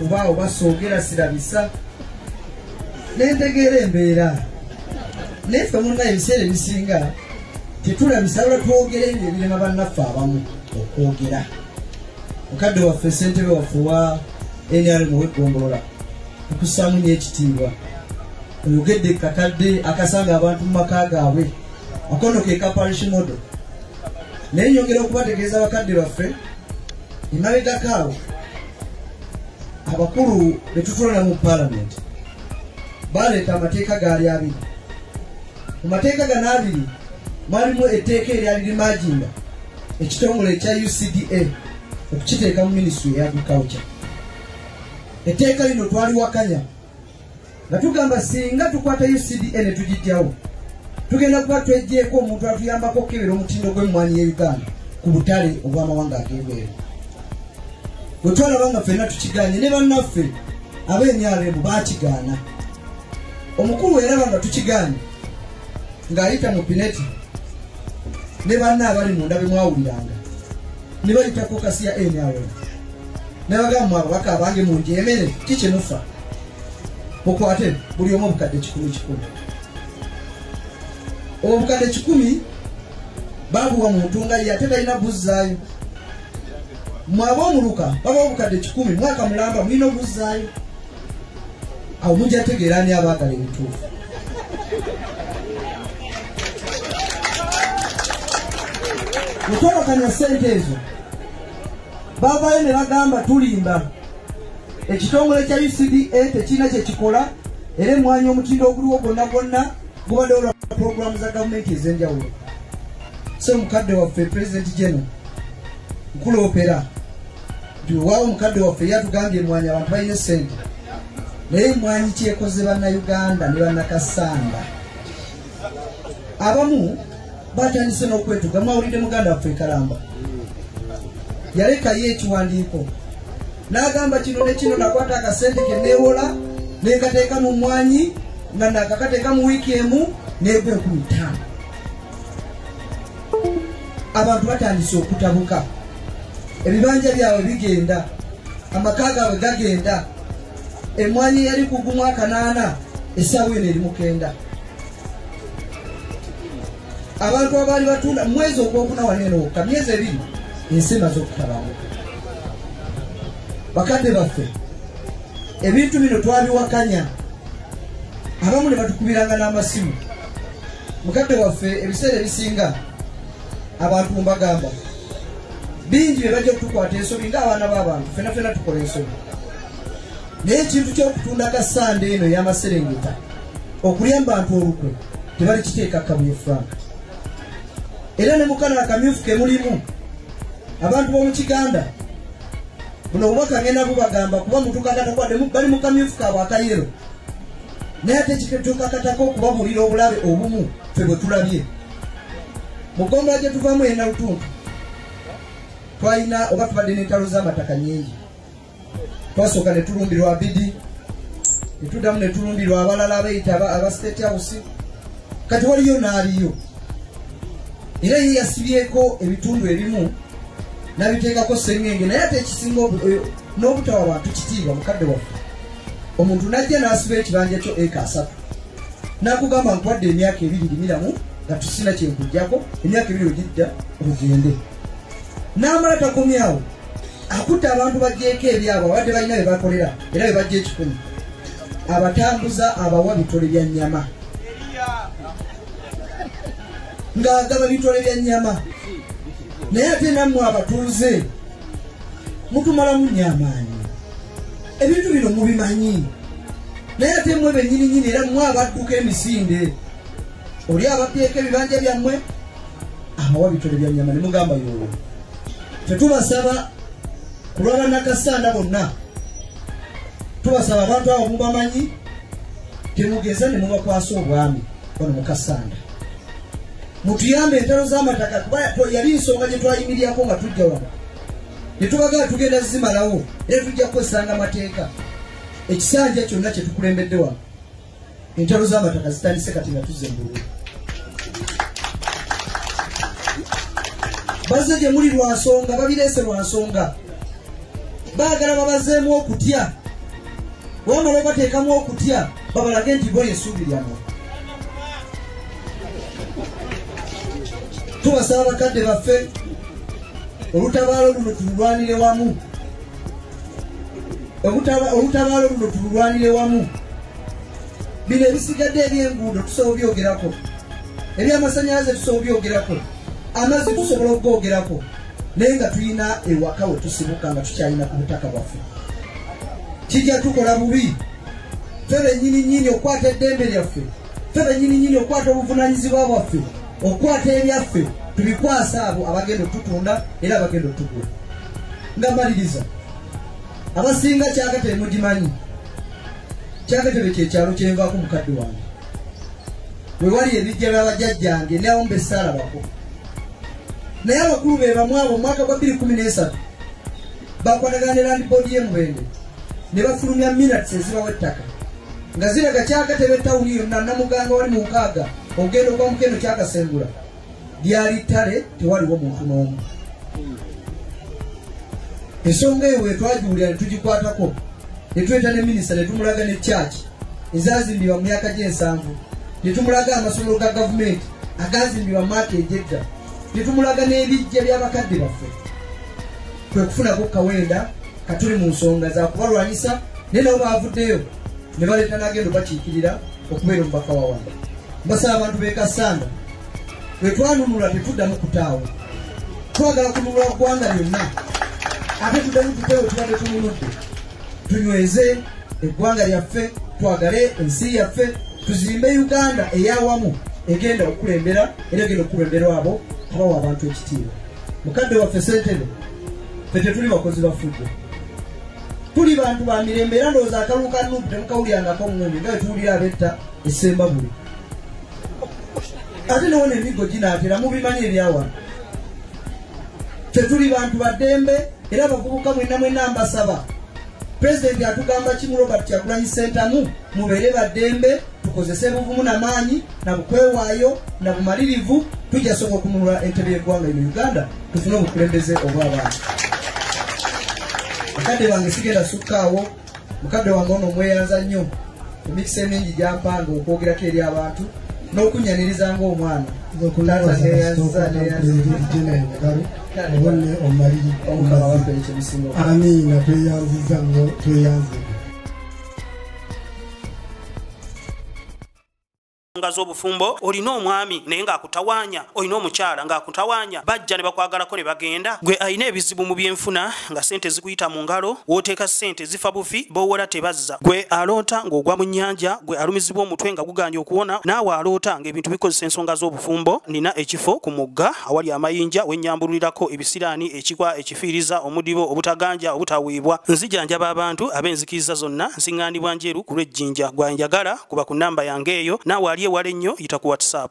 kuba oba soogera sirabisa nentegeera embeera naye fe munna ebiseera ebisinga tetulabisa lwa twogera ebyo ebirema bannaffe abamu okwogera mukadde waffe sentebe waffe wa nrm wegombolola tukusamu nyo ekitiibwa oyogedde kakadde akasanga abantu mu maka gaabwe akono ke kaparish modo naye nyongera okubategeeza bakadde baffe emabegakaawo abakulu betutwala mu palamenti baleeta amateeka gaali abiri mu mateeka gano abiri mwalimu etteeka eryali limaginda ekitongole ekya ucda okukiteeka mu minisitry ya agriculture etteeka lino twaliwakanya nga tugamba singa tukwatayo cda ne tugijjawo tugenda kuba twejjeeko omuntu atuyambako okukebera omutindo gw'emmwanyi ya uganda ku butale obw'amawanga ag'ebweru bwe twalaba nga ffenna tukiganye ne bannaffe ab'emyaremu baakigaana omukulu weeraba nga tukiganye ng'ayita mu pineti ne banna abali munda bemwawuliranga nibayita kokasi ya nrm nabagamba mu ababaka abange munjemere kikyemufa mukwate buli omu obukadde kikumi kikumi obwo obukadde kikumi babuwa muntu nga ye ate talina buzzaayo mwaba omuluka baba obukadde kikumi mwaka mulamba mulina obuzzaayo awo mujja tegeera ani abaagala ebituufu mukwebakanya sente ezo bavayo ne bagamba tulimba ekitongole kya ucda tekirina kyekikola era emwanya omutindo oguliwo gwonna gwonna gubadde olwa puroguramu za gavumenti ez'enjawulo so mukadde waffe president general nkuloopera nti wewaawo omukadde waffe yatugambye emwanyi abantu balina esente naye emwanyi kyekoze bannayuganda ne bannakasamba abamu batandise n'okwetuga mwawulidde muganda waffe ekalamba yalekayo ekiwandiiko n'agamba kino ne kino nakwata akasente ke neewola nenkateeka mu mwanyi nga nakakateeka mu wiiki emu neegwe ku ttaano abantu batandise okutabuka ebibanja byabwe bigenda amaka gaabwe gagenda emwanyi yali kugumu akanaana esaawa eno eri mukenda abantu abaali batunda mwezi ogwokuna wano eno wokka myezi ebiri ensi emaze okutabamu bakadde baffe ebintu bino twabiwakanya abamu ne batukubiranga n'amasimu mukadde waffe ebiseera ebisinga abantu mubagamba bingi bebajja okutukwata ensobi nga abaana b'abantu fena fena tukola ensobi naye ekintu ky'okutunda ka sande eno ey'amaserengeta okulya mu bantu olukwe tebali kiteeka kabuye frank era ne mukana akamyufu ke mulimu abantu b'omu kiganda buno obubaka ngenda bubagamba kuba mutukanda takwade bali mu kamyufu kaabwe akayero naye ate kituukakatako okubabuulira obulabe obumu ffe bwe tulabye mu ggombolola gye tuvaamu ena lutuntu twalina oba tubadde n'entalo z'amataka nyingi twasooka ne tulumbirwa abidi ne tuddamu ne tulumbirwa abalala abayita aba state house kati waliyo n'aliyo era ye yasibyeko ebitundu ebimu nabiteekako sengenge naye ate ekisinga eh, n'obutawa bantu kitiibwa mukadde waffe omuntu najja n'asiba ekibanja kyo eka asatu nakugamba nkwadde emyaka ebiri limiramu nga tusina kyenkujjako emyaka ebiri ogidda ogende n'amala takomyawo akutte abantu bagyeko ebyabo abadde balina bye bakolera era bye bajja ekikumi abatambuza abawa bitole bya nnyama ng'agaba bitole bya nnyama naye ate nammwe abatuuze mutumalamu nnyamaanyi ebintu bino mubimanyi naye ate mwe benyini nyini era mwe abadduka emisinde oli ababyeeko ebibanja byammwe abawa bitole bya nyama ne mugamba yoyo tetubasaba kulwabanakasanda bonna tubasaba abantu abo mubamanyi temugeza ne mubakwasa obwami ono mukasanda mutuyambe entalo z'amataka kuba yali nsonga gye twayimirirako nga tujja wano netubagala tugenda zimalawo era tujja kukozesanga amateeka ekisanja kyonna kyetukulembedde wano entalo z'amataka zitandise kati nga tuzze mbulu bazze gye muli lwa nsonga babireese lwa nsonga baagala babazeemu okutya wamala obateekamu okutya babalage nti bo yesuubi lyamwe tubasaba bakadde baffe olutabaalo luno tululwanire wamu olutabaalo luno tululwanire wamu bino ebisigadde ebyenguudo tusobola obyogerako ebyamasanyalaze tusobola obyogerako amazzi tusobola okugoogerako naye nga tulina ewaka we tusibuka nga tukyalina ku butaka bwaffe kijja tukola bubi ffe bennyini nnyini okukwata eddembe lyaffe ffe bennyini nnyini okukwata obuvunaanyizibwa bwaffe okukwata ebyaffe tubikwasa abo abagenda otutunda era abagenda otugula nga maliriza abasinga kyakatebe mugimanyi kyakatebe kyekyalo kyenvaako mukadde wange wewali ebijja byabajajjange nawo mbesaalabako naye abakulu be bamu abo omwaka gwa 213 bakwatagana ne landibodi ye mubende ne bafulumya minats ezibawa ettaka nga ziraga kyakatebe tawuni yonna namuganga wali mu nkaaga okugenda okuba mukeno kyakasengula lyali ttale tewaliwo muntu n'omu ensonga eyo wetwagiwulira ne tugikwatako ne tuleta ne minisita ne tumulaga ne kyaki ezazimbibwa mu myaka gy'ensanvu ne tumulaga amasomero ga gavumenti agazimbibwa maaka egyedda ne tumulaga n'ebijja by'abakadde baffe kwe kufunako kawenda katuli mu nsonga za kubalwanyisa naye nabo baavuddeyo ne baleeta n'agenda obakiikirira okubeera omubaka wa wanda mbasaba abantu bekasaana bwe twanunula tetuddamu kutaawo twagala kununula ggwanga lyonna ate tuddamu tutewo tubadde tununudde tunyweze eggwanga lyaffe twagale ensi yaffe tuzimbe uganda eyawamu egenda okukulembera era egenda okukulemberwa abo abawa abantu ekitiibwa mukadde waffe sentebe fe tetuli bakozi bafudde tuli bantu ba mirembe era ndowooza akalulu ka nupu temukawulirangako mundi nga wetuwulira abetta esemba buli ate newona emiggo ginaatera mubimanyi ebyawano tetuli bantu baddembe era abavubuka mwena mwena mbasaba pulezidenti atugamba kimu robert kyagulanyi sentamu mubeere baddembe tukozese buvumu na maanyi na bukwewaayo na bumalirivu tujja soka okununula entebe y'eggwanga ino uganda tufune obukulembeze obw'abantu mukadde wange sigenda sukkaawo mukadde wange ono omweyanza nnyo emikisa emingi gyampanga okwogerako eri abantu n'okunnyaniriza ng'omwana amiina tweyanziza nnyo tweyanzibwa nga z'obufumbo olina omwami naye ng'akutawaanya olina omukyala ng'akutawaanya bajja ne bakwagalako ne bagenda gwe alina ebizibu mu byenfuna nga sente zikuyita mu ngalo w'oteeka sente zifa bufi boowola tebazza gwe aloota ng'ogwa mu nnyanja gwe alumizibwa omutwe nga guganye okuwona naawe aloota ng'ebintu bikozesa ensonga z'obufumbo nina ekifo ku mugga awali amayinja wennyambululirako ebisiraani ekikwa fiiriza omudibo obutaganja obutaweebwa nzijanjaba abantu ab'enzikiriza zonna nsiŋŋaanibwa njeru ku lw'ejjinja gwanjagala kuba ku nnamba yange eyo naawe ali ewala ennyo yita ku whatsapp